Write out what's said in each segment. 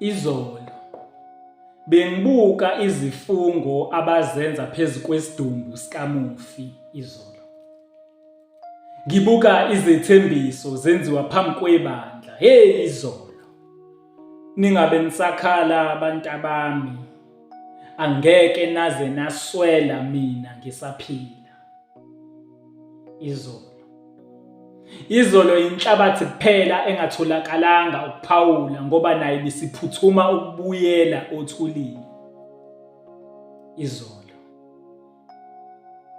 Izolo bengibuka izifungo abazenza phezu kwesidumbu sikamufi izolo. Ngibuka izethembiso zenziwa phambi kwebandla. Hey izolo. Ningabe nisakhala abantu abami. Angeke naze naswela mina ngisaphila. izolo izolo inhlabathi kuphela engatholakalanga ukuphawula ngoba naye bisiphuthuma ukubuyela othulini izolo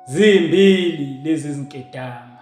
zimbili lezi zinkedama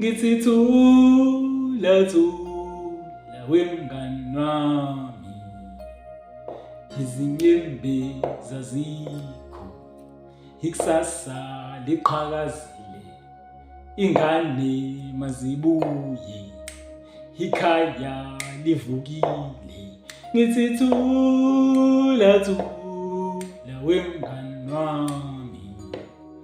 ngithi thula thula wemngani wami izinyembe zazikho ikusasa liqhakazile ingane mazibuye ikhaya livukile ngithi thula thula wemngani wami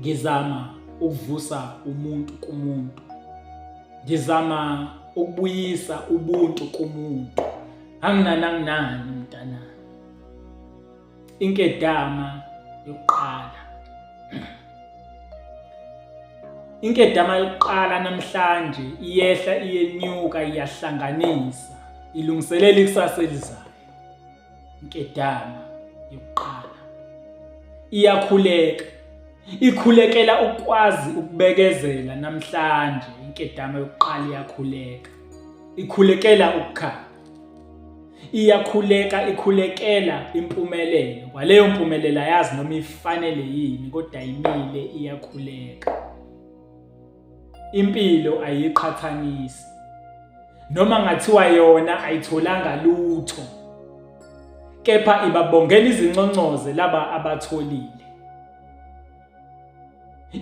ngizama ukuvusa umuntu kumuntu ngizama ukubuyisa ubuntu kumuntu anginani anginani mntana inkedama yokuqala inkedama yokuqala namhlanje iyehla iyenyuka iyahlanganisa ilungiselela ikusasa elizayo nkedama yokuqala iyakhuleka ikhulekela ukwazi ukubekezela namhlanje inkedama yokuqala iyakhuleka ikhulekela ukukhanya iyakhuleka ikhulekela impumelelo kwaleyo mpumelela yazi noma ifanele yini kodwa imile iyakhuleka Impilo ayiqhathanisi. Noma ngathiwa yona ayitholanga lutho. Kepha ibabongela izinconcoze laba abatholile.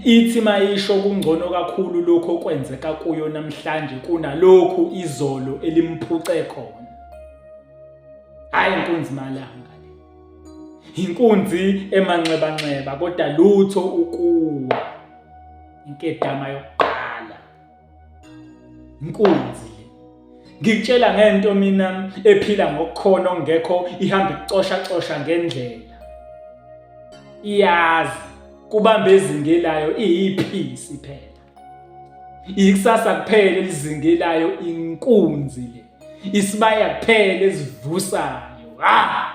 Ithi mayisho kungcono kakhulu lokho okwenzeka kuyo namhlanje kunalokhu izolo elimphuce khona. Hayi inkunzi malanga le. Inkunzi emanxebanxeba kodwa lutho ukuwa. inkedama yokuqala inkunzi ngikutshela ngento mina ephila ngokukhona ongekho ihamba icosha cosha ngendlela iyazi kubamba izinge layo iyiphisi phela ikusasa kuphela elizinge layo inkunzi le isibaya kuphela esivusayo ha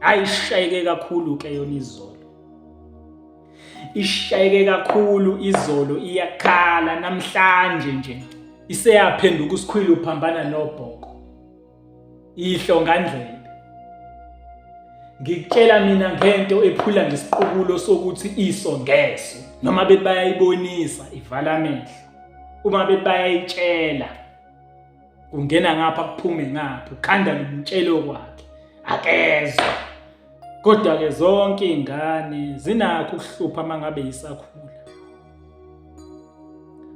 hayi ishayeke kakhulu ke yona izolo ishayeke kakhulu izolo iyakhala namhlanje nje iseyaphenduka usikhwili uphambana nobhoko ihlongandlela ngikutshela mina ngento ephula ngesiqubulo sokuthi iso ngeso noma bethi bayayibonisa ivala amehlo uma bethi bayayitshela ungena ngapha kuphume ngapha ukhanda ngimtshele okwakhe akezwa kodwa ke zonke izingane zinakho ukuhlupha mangabe isakhula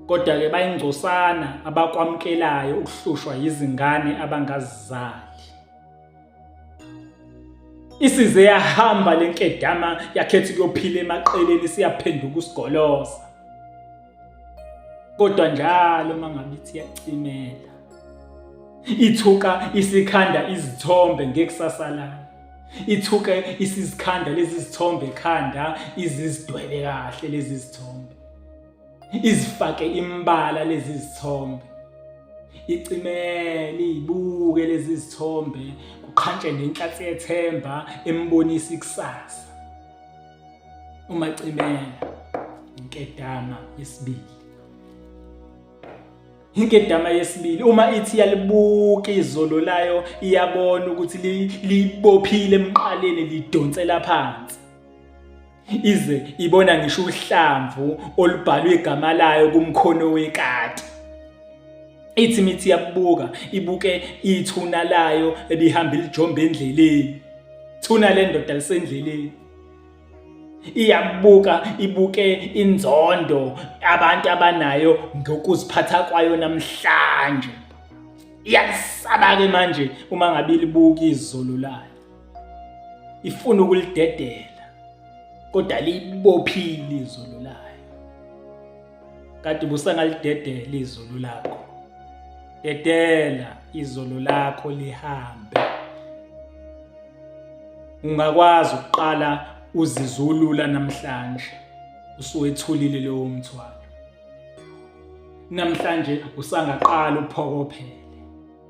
kodwa ke bayingcosana abakwamkelayo ukuhlushwa izingane abangazizali isize yahamba lenkedama yakhetha ukuyophila emaqeleni siyaphenduka usigolosa kodwa njalo mangabe ithi yacimela ithuka isikhanda izithombe ngekusasa layo ithuke isizikhanda lezi zithombe ekhanda izizidwebe kahle lezi zithombe izifake imbala lezi zithombe icimele ibuke lezi zithombe kuqhantshe nenhlathi yethemba embonisa ikusasa umacimela inkedama yesibili inkedama yesibili uma ithi yalibuka izolo layo iyabona ukuthi libophile emqaleni lidonsela phansi ize ibona ngisho uhlamvu olubhalwe igama layo kumkhono wekati ithi mithi yakubuka ibuke ithuna layo ebihamba lijombe endleleni thuna le ndoda lisendleleni iyabuka ibuke inzondo abantu abanayo ngokuziphatha kwayo namhlanje iyasaba ke manje uma ngabe libuka izolo layo ifuna ukulidedela kodwa libophile izolo layo kade busangalidedela izulu lakho dedela izulu lakho lihambe ungakwazi ukuqala uzizulula namhlanje usuwethulile lowo mthwalo namhlanje usangaqala uphokophele